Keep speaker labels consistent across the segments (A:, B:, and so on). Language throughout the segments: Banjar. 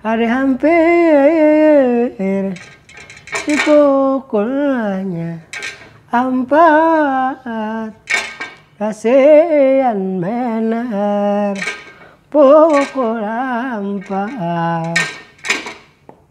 A: Hari hampir dipukulnya ampat Kasian benar pukul ampat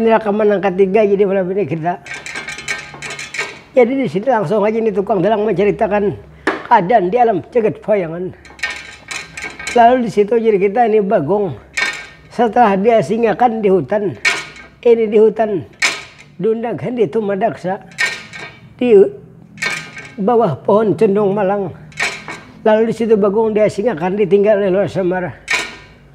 A: Ini rakaman nang katiga jadi malam ini kita. Jadi di sini langsung aja nih tukang dalang menceritakan keadaan di alam jagat bayangan. Lalu di situ jadi kita ini Bagong setelah diasingakan di hutan. Ini di hutan Dunda Gandhi Tumadaksa di bawah pohon cendong malang. Lalu di situ Bagong diasingakan ditinggal oleh Lor Semar.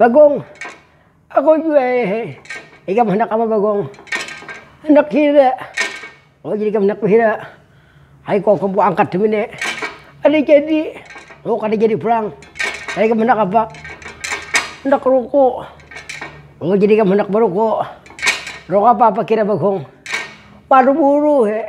A: Bagong, aku jua he, ikam handak apa bagong, handak hira, oh jadi ikam handak bahira, ayu kawa kam ku angkat demi ne, kada jadi, oh kada jadi pulang, jadi ikam handak apa, handak ruku, oh jadi ikam handak baruku, ruku apa apa kira bagong, baru buru he.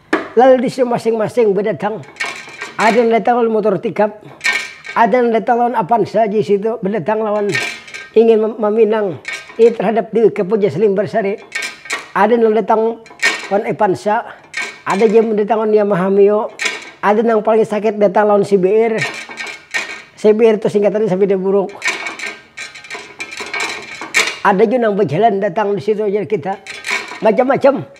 A: Lalu di situ masing-masing bedatang. Ada nang datang lawan motor tikap, ada nang datang lawan apansa di situ bedatang lawan ingin maminang ini terhadap diri ke Puja Selim Barsari. Ada nang datang lawan Epansa, ada jua nang datang lawan Yamaha Mio, ada nang paling sakit datang lawan CBR. CBR tu singkatannya Sabeda Buruk. Ada jua nang bejalan datang di situ jar kita. Macam-macam.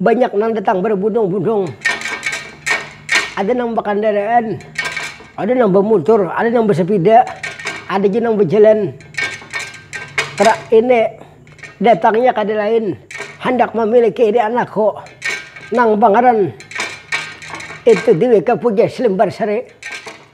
A: Banyak nang datang berbundung-bundung. Ada nang bakandaraan, ada nang bamutur, ada nang basapida, ada jua nang bajalan. Trak ini datangnya kada lain handak mamiliki ini anakku nang bangaran itu deweka puja selembar sari.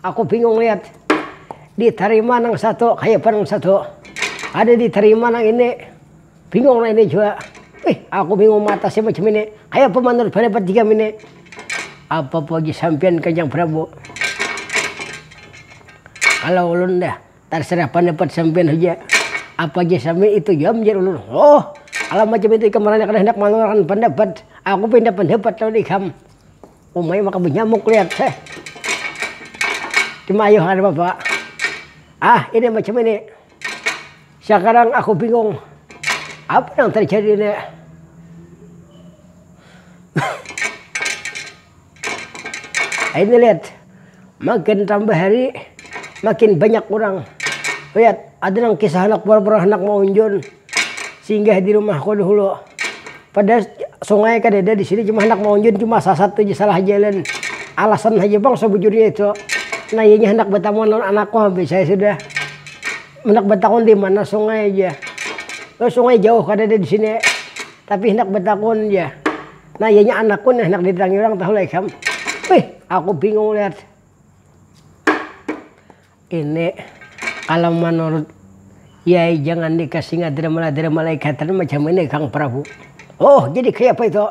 A: Aku bingung liat di tarima nang satu kaya apa nang satu kada di tarima nang ini bingung nang ini jua wih aku bingung matasnya macam ini kaya apa manurut pandapat ikam ini apa puji sampiyan kanjang prabu kalo ulun dah tarserah pandapat sampiyan haja apa ja sampiyan itu jua jar ulun oh kalo macam itu ikam handak manurut akan pandapat aku pinda pandapat lawan ikam. Umai maka banyamuk lihat heh. Cuma ayuh ada bapa. Ah ini macam ini. Sekarang aku bingung. Apa yang terjadi ini? ini lihat. Makin tambah hari makin banyak orang. Lihat, ada nang kisah anak pura-pura anak mau unjun. Singgah di rumah ko dahulu. Padahal sungai kadada di sini cuma handak maunjun cuma sasat tu ja salah jalan. Alasan haja pang sabujurnya itu. Nah inya handak batamuan lawan anak ko habis saya sudah handak batakun di mana sungai jar. Oh sungai jauh kadada di sini tapi handak batakun jar. Nah ianya anak ko nah handak didatangi urang tahu lah ikam. Wih aku bingung lihat. Ini kalau menurut yai jangan dikasih ngadir-madir malaikatan macam ini kang prabu. Oh jadi kayapa itu?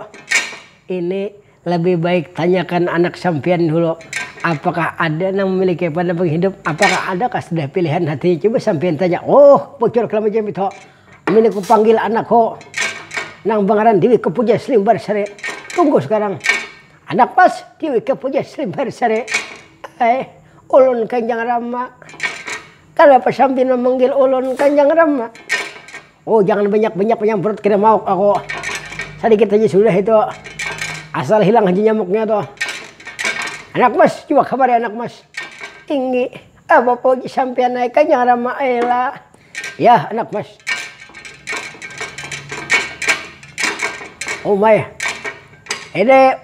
A: Ini lebih baik tanyakan anak sampiyan dulu apakah ada nang memiliki pandangan hidup apakah ada kah sudah pilihan hatinya coba sampiyan tanya oh bocor kalau macam itu ini ku panggil anakku nang bangaran dewika pujaslimbarsari tunggu sekarang anak pas dewika pujaslimbarsari. Ai ulun kanjang rama. Kanapa sampina manggil ulun kanjang rama. Oh jangan banyak-banyak manyamprut kena mauk aku. Sadikit haja sudah itu. Asal hilang haja nyamuknya tu. Anak mas, coba kamari anak mas. Tinggi. Ah bapoji sampian ai kanjang rama ai lah. Yah anak mas. Umai. Ini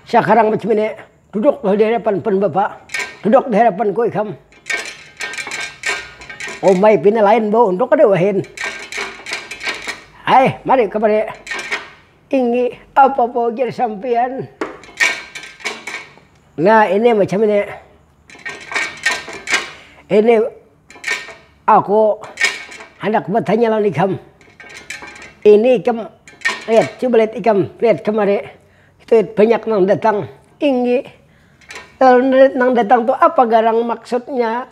A: sakarang macam ini. Duduk lah dihadapan pan bapa. Duduk dihadapan ku ikam. Umai pina lain bau untuk kada wahin. Hai mari kamari. Ingi apa apa ujar sampian. Nah ini macam ini. Ini aku hendak bertanya lawan ikam. Ini ikam lihat coba lihat ikam lihat kamari. Itu banyak nang datang tinggi. Lalu nang datang tu apa garang maksudnya.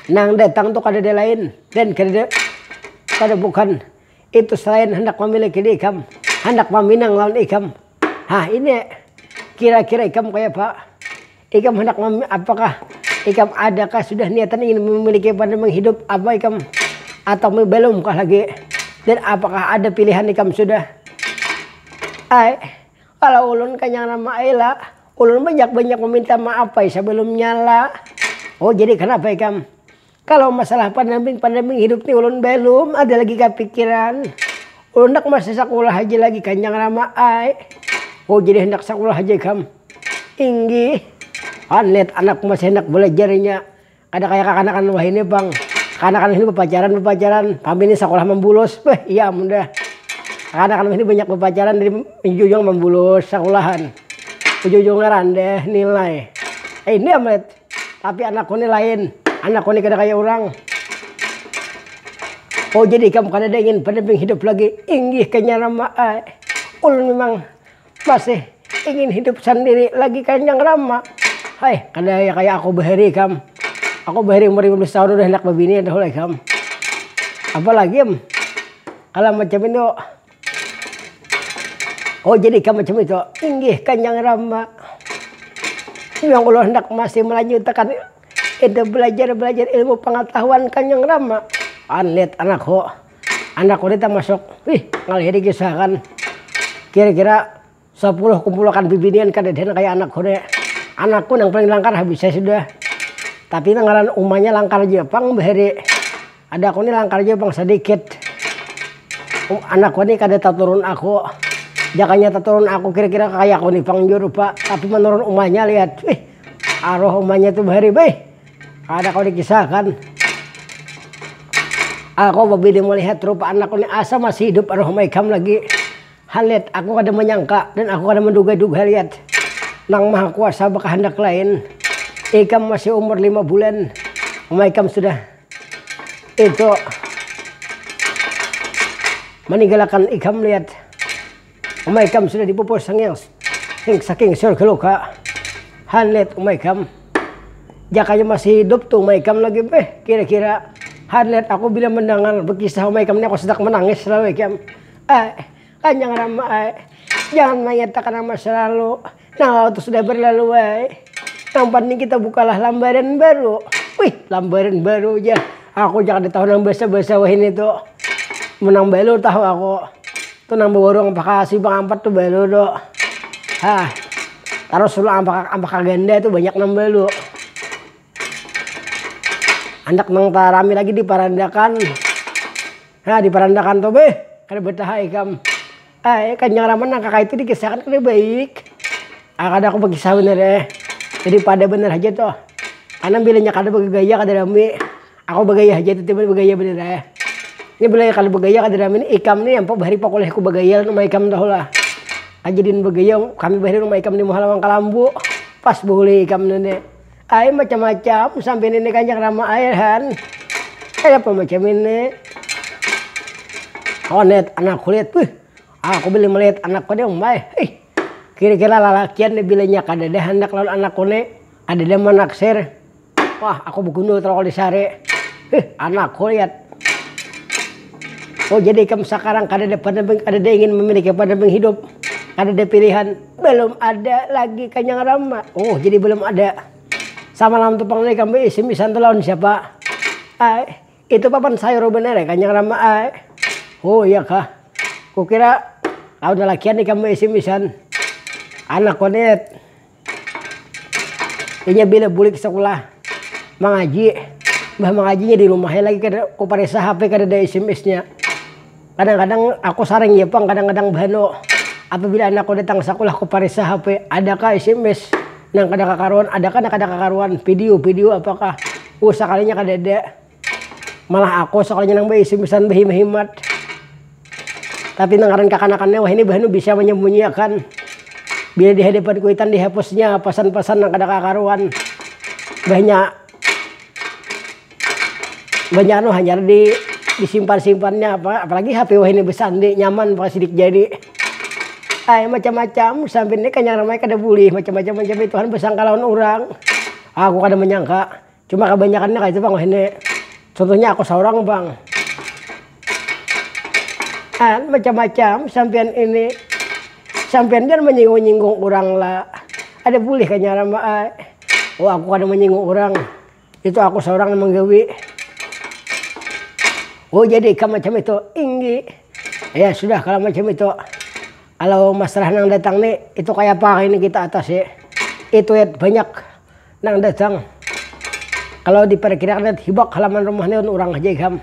A: Nang datang tu kadada lain dan kadada kada bukan itu selain handak mamiliki diikam, handak maminang lawan ikam. Hah ini kira-kira ikam kayapa. Ikam handak mami apa kah? Ikam ada kah sudah niatan ingin memiliki partner menghidup apa ikam atau me belum kah lagi? Dan apakah ada pilihan ikam sudah? Ai, kalau ulun kanyang nama ai la, ulun banyak-banyak meminta maaf ai sebelumnya la. Oh jadi kenapa ikam? Kalo masalah pandamping-pandamping hidup ti ulun balum ada lagi kapikiran. Ulun handak masih sakulah haja lagi kanjang rama ai. Ho jadi handak sakulah haja ikam. Inggih. Wan lihat anak masih handak balajarnya. Kada kaya kakanakan wahini pang. Kakanakan wahini bapacaran-bapacaran pambini sakulah mambulos. Beh iya amun dah. Kakanakan wahini banyak bapacaran dari ujung-ujung mambulos sakulahan. Ujung-ujungnya randah nilai. Ini am. Tapi anakku ni lain, anakku ni kada kaya urang. Oh jadi ikam kadada ingin pendamping hidup lagi, inggih kanya Rama ai. Ulun mimang masih ingin hidup sandiri lagi kanyang Rama. Hai kada ya kaya aku bahari ikam, aku bahari umur lima belas tahun udah handak babini tahulah ikam. Apalagi am, kalo macam ini tu. Oh jadi ikam macam itu. Inggih kanjang rama. Ya allah handak masih melanjutakan itu belajar belajar ilmu pangatahuan kanjang rama. Anit anakku. Anakku ni tamasuk, wih ngalih dikisahakan. Kira kira. Sapuluh kumpulakan bibinian kadadian kaya anak ku ne, anak ku nang paling langkar habis ai sudah, tapi nang ngaran uma nya langkar jua pang bahari, ada ku ni langkar jua pang sadikit, anak ku ni kada taturun aku, jakanya taturun aku kira kira kaya ku ni pang jua rupa, tapi manurun uma nya lihat wih aruh uma nya tu bahari baih kada kawa dikisah akan, aku babini melihat rupa anak ku ni asa masih hidup aruh ma ikam lagi. Halyat, aku kada manyangka dan aku kada manduga-duga Halyat, Nang Maha Kuasa bakahandak lain. Ikam masih umur lima bulan, mama ikam sudah itu maninggalakan ikam Lyat. Mama ikam sudah dipupus sangyang saking surga luka. Halyat, mama ikam, jakanya masih hidup tu mama ikam lagi beh kira-kira. Halyat, aku bila mandangar bakisah mama ikam ni aku sadak manangis lalu ikam. Ae, kanjang rama ae, jangan manyatakan nama salalu, nang lalu tu sudah barlalu ae, nang panting kita bukalah lambaran baru, wih lambaran baru jar aku ja kada tahu nang basa-basa wahini tu, mun nang balu tahu aku tu nang bawarung ampaka simpang ampat tu balu tu, hah tarus suruh ampaka ampaka ganda tu banyak nang balu, handak nang tarami lagi di parandakan. Nah di parandakan tu beh kada betaha ikam ai kanjang raman nang kakaitu di kisah akan kada baik ai kada aku bakisah banar ai jadi pada banar haja tu anang bila nya kada bagaya kada rami aku bagaya haja titiban bagaya banar ai nya bila kada bagaya kada rami ni ikam ni ampuk bahari pakuliah ku bagaya lawan uma ikam tahu lah kajadian bagaya kami bahari lawan uma ikam di muha lawang kalambu pas bahulu ikam tu ni. Ai macam-macam sambil ini kan yang rama air kan kaya apa macam ini kawan lihat anak kulit wih aku bila melihat anakku nih umai ih kira-kira lalakian nih bilanya kadada handak lawan anakku nih kadada manaksir wah aku begundul kalau disari ih anakku lihat oh jadi ikam sekarang kadada ingin memiliki pendamping hidup kadada pilihan. belum ada lagi kanyang rama oh jadi belum ada sama lam tupang ni kami isim isan tu lawan siapa ay itu papan sayur bener ya kanyang rama ay oh iya kah kukira lawan lalakian ni kami isim isan anak konet inya bila bulik sekolah mangaji bah mangajinya di rumahnya lagi kada kuparisa HP kada ada isim isnya Kadang-kadang aku saring ja pang kadang-kadang bahanu apabila anakku datang sakulah ku parisa HP adakah sms nang kada kakaruan adakah nang kada kakaruan video video apakah uh sakalinya kadada malah aku sakalinya nang ba sms-an bahimat-himat tapi nang ngaran kakanakannya wahini bahanu bisa manyambunyiakan bila di hadapan kuitan dihapusnya pasan-pasan nang kada kakaruan bahnya. Banyak anu hanyar di disimpan-simpannya apa apalagi HP wahini besar ni nyaman pa sidik jari ai macam-macam sampai ni kanyang ramai kada bulih macam-macam macam itu han besangka lawan urang aku kada menyangka cuma kabanyakannya kaya itu pang wahini contohnya aku saurang pang han macam-macam sampiyan ini sampiyan jar menyinggung-nyinggung urang la ada bulih kanyang rama ai oh aku kada menyinggung urang. Itu aku seorang yang menggawi. Oh jadi ikam macam itu? Inggi. Ya sudah kalau macam itu. Kalau masalah nang datang nih, itu kayak apa hari ini kita atasi. Itu ya banyak nang datang. Kalau diperkirakan hibak halaman rumah nih orang aja ikam.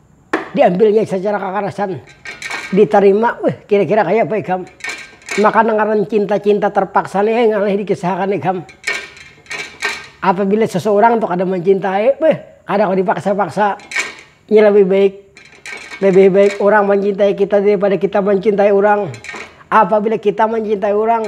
A: diambilnya sacara kakarasan ditarima weh kira kira kaya apa ikam maka nang ngaran cinta cinta terpaksa nih ngalih dikisahakan ikam apabila seseorang tu kada mancintai beuh kada kawa dipaksa paksa nya lebih baik lebih baik urang mancintai kita daripada kita mancintai urang apabila kita mancintai urang.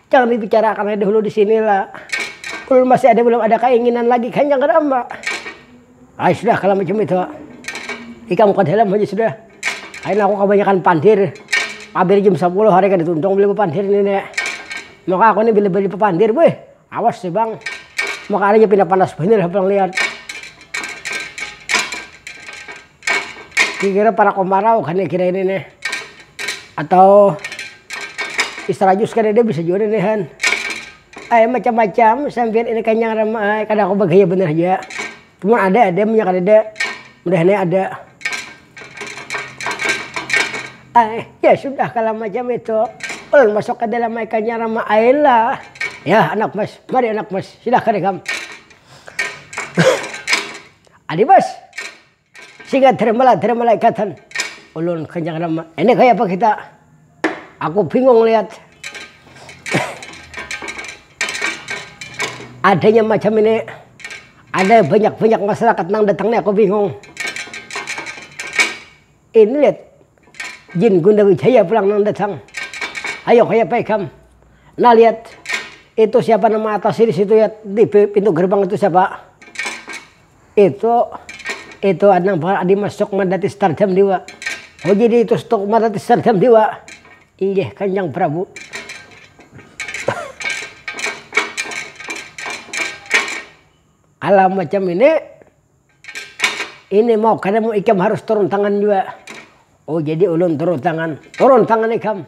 A: Jangan dibicarakan aja dahulu di sini lah. Ulun masih ada belum ada kainginan lagi kan jangan amba. Ay sudah kalau macam itu. Ikam ke dalam aja sudah. Kain aku kebanyakan pandir. Pabir jam 10 hari kada tuntung beli bepandir ni nek. Maka aku ni bila beli bepandir weh awas nih bang. Maka hari ini pindah panas banyak lah bang lihat. Kikira parak omarau kani kira ini nih atau istrajus kadada bisa jua ini han ai macam macam sampian ini kanyang ram ai kada aku bagaya banar haja cuma ada ada munnya kadada mudahan nya ada ai ya sudah kalo macam itu ulun masuk kadalam ai kanyang ram ai lah yah anak mas mari anak mas silahkan ikam. Adi bos. Singa terimbalai terimbalai katan. Ulun kenyang nama. Ini kaya apa kita. Aku bingung lihat. Adanya macam ini. Ada banyak-banyak masyarakat nang datang nih aku bingung. Ini liat jin gundar wijaya pulang nang datang ayo kaya apa ikam nah liat itu siapa nama atas sini situ liat di pintu gerbang itu siapa itu itu adnang bakal adi masuk madati stardam diwa oh jadi itu stok madati stardam diwa inggih kanjang prabu alam macam ini. Ini mau kada mau ikam harus turun tangan jua. Oh jadi ulun turun tangan, turun tangan ikam.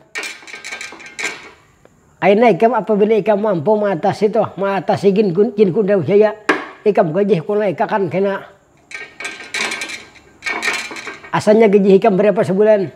A: Akhirnya ikam apabila ikam mampu mengatasi tuh, mengatasi jin kunda wisaya, ikam gajih kula ikakan kena. Asalnya gajih ikam berapa sebulan?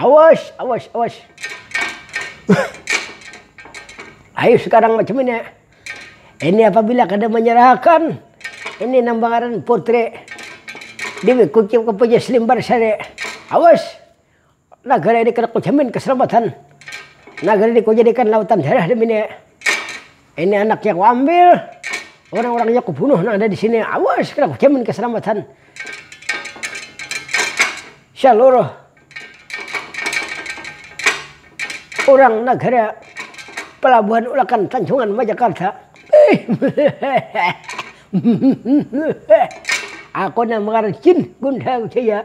A: awas awas awas ayo sekarang macam ini ini apabila kada menyerahkan ini nang bangaran putri dewek kucing kepejas limbar sare awas. Nagara ini kada kujamin keselamatan. Nagara ini kujadikan lautan darah demi nia. Ini anaknya kuambil, orang-orangnya kubunuh nang ada di sini. Awas, kada kujamin keselamatan. Seluruh orang nagara pelabuhan ulakan Tanjungan Majakarta. Aku nang mengarah jin Gundha Wijaya.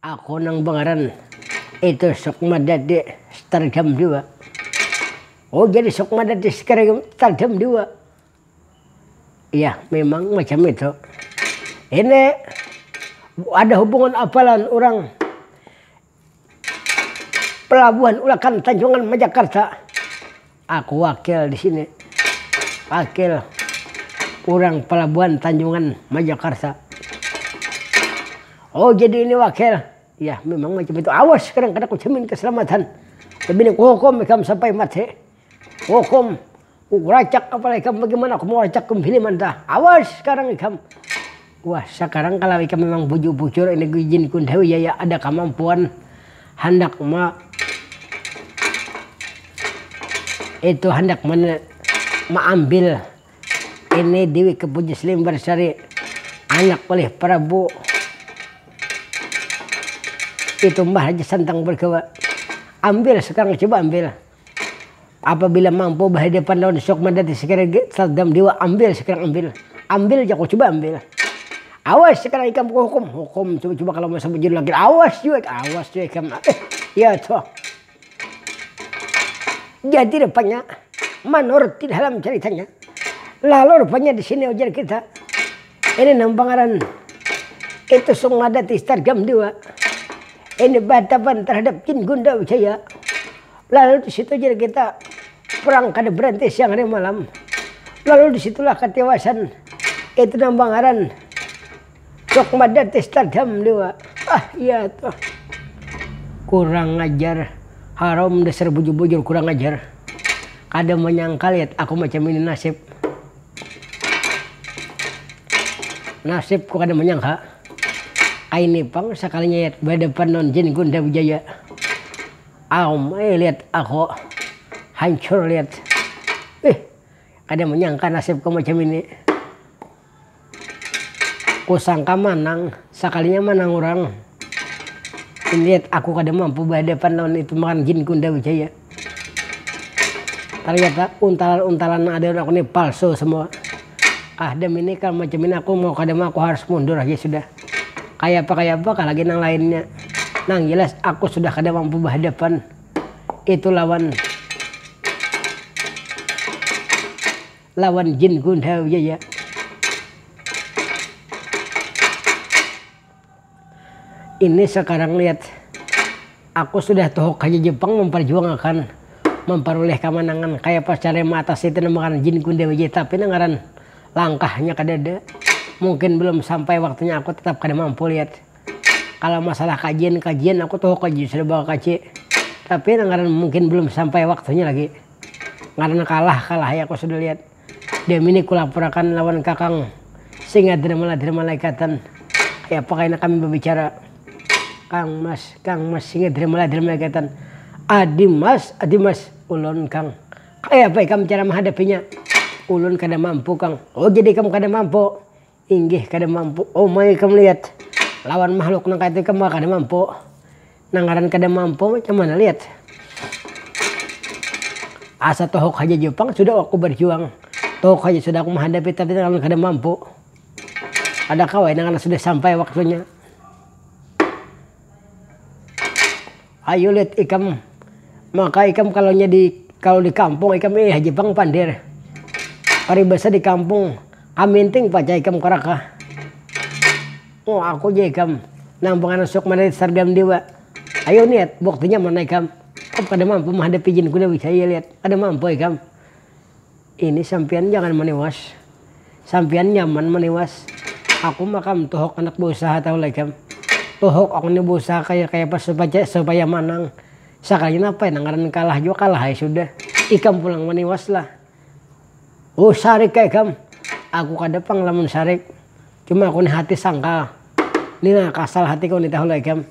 A: Aku nang bangaran itu Sukma Dadi Stardam jua. Oh jadi Sukma Dadi Stardam jua. Iya memang macam itu. Ini ada hubungan apa lawan urang pelabuhan ulakan tanjungan majakarta. Aku wakil disini, wakil urang pelabuhan tanjungan majakarta. Oh jadi ini wakil, yah memang macam itu awas kadang kada kujamin keselamatan, bini kuhukum ikam sampai mati, kuhukum kukuracak kepala ikam bagaimana aku mau racak bini mantah awas sekarang ikam. Wah sakarang kalau ikam memang bujur bujur ini guijin ikun tahu ya ya ada kamampuan handak ma itu handak mana ma ambil ini dewek kepujus limbar sari anak oleh prabu itu mbah haji santang bergawa ambil sekarang coba ambil. Apabila mampu bahadapan lawan sukma dadi sekirang gin sardam dewa ambil sekirang ambil ambil jaku cuba ambil awas sekarang ikam kuhukum hukum cuba cuba kalo masuk bujur lagi awas jua awas jua ikam eh ya toh jadi rupanya manurut di dalam ceritanya lalu rupanya disini ujar kita Ini nang pangaran itu sung mada ti stargam jua. Ini bahatapan terhadap jin gunda wijaya. Lalu di situ jadi kita perang kada berhenti siang hari malam. Lalu di situlah ketiwasan itu nang pangaran sung mada ti stargam jua. Ah iya tuh. Kurang ajar. Haram dasar bujur-bujur kurang ajar. Kada manyangka lihat aku macam ini nasib. Nasib ku kada manyangka, kaini pang sakalinya yat badapan lawan Jin Gunda Wijaya. Aum ai liat aku, hancur liat. Ih, kada manyangka nasib ku macam ini. Ku sangka manang, sakalinya manang urang. Ini liat aku kada mampu badapan lawan itu ngaran Jin Gunda Wijaya. Ternyata untalan-untalan nang ada di aku ni palsu semua. Ah dem ini kal macam ini aku mau kada mau aku harus mundur haja sudah. Kayapa-kayapa kah lagi nang lainnya. Nang jelas aku sudah kada mampu bahadapan itu lawan lawan jin gundhawi aja. Ini sakarang liat, aku sudah tuhuk haja Jepang mamparjuangakan mamparulih kamanangan, kayapa caranya maatasi tinambakan Jin Kun Dewa Jaya tapi nang ngaran langkahnya kadada. Mungkin belum sampai waktunya aku tetap kada mampu liat. Kalau masalah kajian kajian aku tuhuk haja sudah bakakaji tapi nang ngaran mungkin belum sampai waktunya lagi karena kalah kalah haja aku sudah liat. Diam ini kulapurakan lawan kakang Singadramaladir malaikatan kayapa kaina kami babicara Kang mas kang mas Singadramaladir malaikatan Adi mas adi mas ulun kang kayapa ikam cara mahadapinya ulun kada mampu kang oh jadi ikam kada mampu Inggih kada mampu. Oh ma ikam liat lawan mahluk nang kayatu ikam kada mampu. Nang ngaran kada mampu macam mana liat. Asa tuhuk haja jua pang sudah aku barjuang. Tuhuk haja sudah aku mahadapi tapi nang ngaran kada mampu. Ada kawai nang ngaran sudah sampai waktunya. Ayulit ikam maka ikam kalonya di kalo di kampung ikam ih haji pang pandir paribasa di kampung kaminting pacah ikam karaka oh aku ja ikam nang panganan suak manarik sargam dewa ayu niat buktinya mana ikam kada mampu mahadapi jin kuda wisaya liat kada mampu ikam. Ini sampiyan jangan maniwas. Sampiyan nyaman maniwas. Aku mah kam tuhuk handak bausaha tahu leh kam. Tuhuk aku ni bausaha kaya kaya apa supaya manang. Sakalinya napa ya nang ngaran kalah jua kalah ai sudah. Ikam pulang maniwas lah. Huh sarik ai kam. Aku kada pang lamun sarik. Cuma aku ni hati sangkal. Ni nah kasal hatiku ni tahu leh kam.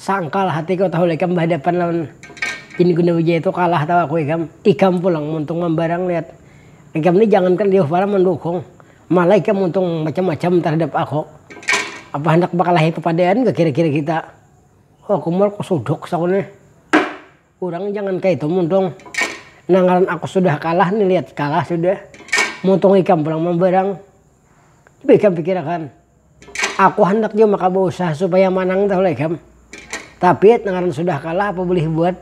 A: Sangkal hatiku tahu ikam bahadapan lawan Jin Guna Wijaya tu kalah tahu aku ikam. Ikam pulang muntung mambarang lihat. Ikam ni jangankan jauh palang mandukung, malah ikam muntung macam-macam tarhadap aku. Apa handak bakalahi papadaan kah kira-kira kita. Aku muar kusuduk saku nih. Urang jangan kaya itu muntung. Nah ngaran aku sudah kalah nih lihat kalah sudah. Muntung ikam pulang mambarang. Coba ikam pikirakan. Aku handak jua maka bausaha supaya manang tahu lah ikam. Tapi nang ngaran sudah kalah apa bulih buat.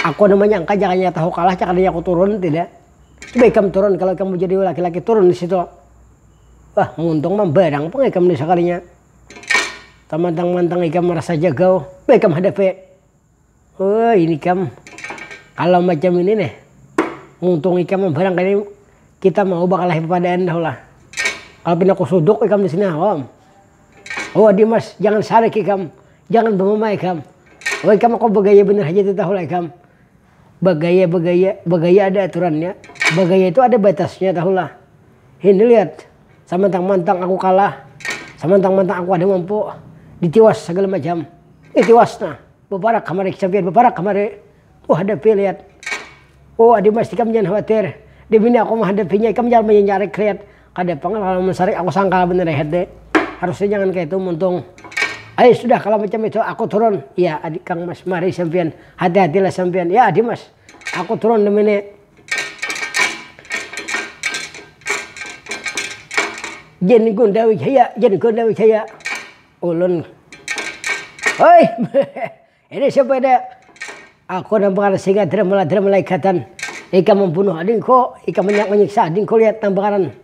A: Aku ada manyangka jakanya tahu kalah cakadanya aku turun tidak. Coba ikam turun kalau ikam mau jadi laki-laki turun di situ. Wah muntung mambarang pang ikam nih sakalinya. Tamantang-mantang ikam marasa jagau, bah ikam hadapi. Wah ini kam, kalo macam ini nih, muntung ikam barangkali kita mau bakalahi papadaan dah lah. Kalo pina kusuduk ikam disini awam. Wah dimas, jangan sarik ikam, jangan bamamah ikam. Wah ikam aku bagaya banar haja tu tahu lah ikam. bagaya bagaya bagaya ada aturannya bagaya itu ada batasnya tahu lah ini lihat samantang mantang aku kalah samantang mantang aku ada mampu ditiwas segala macam eh tiwas nah beparak kamari kesampian beparak kamari oh hadapi lihat oh adi mas ikam jangan khawatir demi ini aku menghadapinya ikam jangan menyarik lihat Kada pang lah lamun sarik aku sangkal banar rehat deh. Harusnya jangan kaya itu muntung. Ai sudah kalau macam itu aku turun. Iya adik kang mas mari sampiyan hati hati lah sampiyan. Ya adi mas aku turun demi ni. Jan gunda wijaya jan gunda wijaya ulun. Hoi. Ini sepeda Aku nampakana singa drmla drmla ikatan ikam membunuh adingku ikam menyiksa adingku lihat nampakanan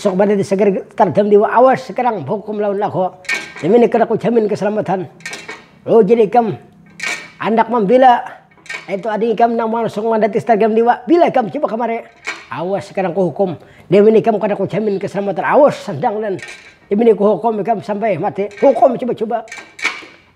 A: sok badadi seger terdam diwa awas sekarang hukum lawan aku demi negara ku jamin keselamatan lujin ikam andak membela itu ading ikam nang langsung mandati sterdam diwa bila ikam coba kemari awas sekarang ku hukum demi ikam kada ku jamin keselamatan awas sendang dan demi ku hukum ikam sampai mati hukum coba coba.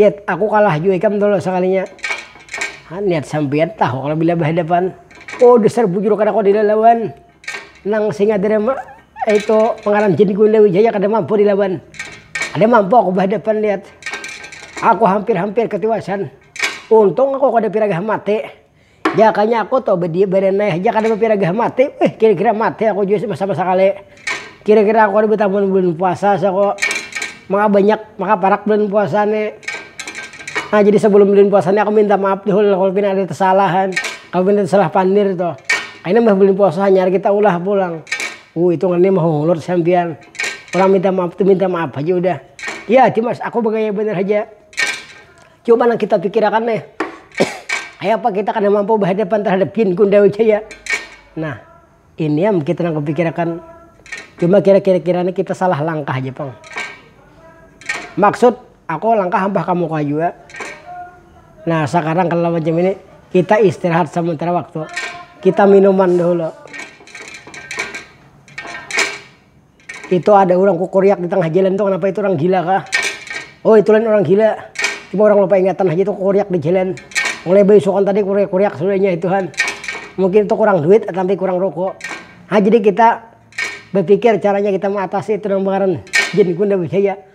A: Yet, aku kalah jua ikam tu lo sakalinya. Hah, niat sampiyan tahu kalo bila bahadapan. Oh, dasar bujur kada kawa dilalawan. Nang singa tadi ma, itu pangaran Jin Gunda Wijaya kada mampu dilawan. Kada mampu aku bahadapan lihat. Aku hampir-hampir katiwasan. Untung aku kada piragah mati. Jakanya aku tuh badiam badanai haja kada bapiragah mati wih kira-kira mati aku jua sama sakali kira-kira aku kada betah mun bulan puasa saku maka banyak maka parak bulan puasa ni nah jadi sebelum bulan puasa ni aku minta maaf dahulu lah kalau pina ada kesalahan kalau pina salah pandir tuh kaina imbah bulan puasa hanyar kita ulah pulang uh itu ngarannya mahungut sampiyan orang minta maaf tuh minta maaf haja udah, iya dimas aku bagaya banar haja. Coba nang kita pikirakan nih. Kayak apa kita kada mampu berhadapan terhadap Jin Kundawi Jaya. Nah, ini yang kita nang pikirakan. Cuma kira-kira kiranya kita salah langkah aja, Pang. Maksud aku langkah hampah kamu kau juga. Nah, sekarang kalau macam ini kita istirahat sementara waktu. Kita minuman dulu. Itu ada urang kukuriak di tangah jalan tu kanapa itu urang gila kah. Oh itu lain urang gila. Cuma urang lupa ingatan haja itu kukuriak di jalan. Mulai baisukan tadi kuriak-kuriak sudah inya itu han. Mungkin itu kurang duit atampi kurang ruko. Ha jadi kita bapikir caranya kita maatasi itu nang ngaran jin gundabujaya.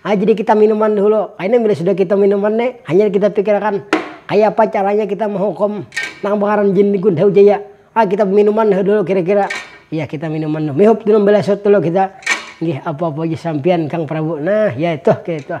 A: Nah jadi kita minuman dahulu, kaina bila sudah kita minuman ne hanyar kita pikirakan kayapa caranya kita mahukum nang bangaran jin gun hau jaya, ah kita baminuman dahulu kira-kira, ya kita minuman dulu, mihup dulu balasut dulu kita, nggih apa-apa ja sampiyan kang prabu, nah ya ituh kaya ituh.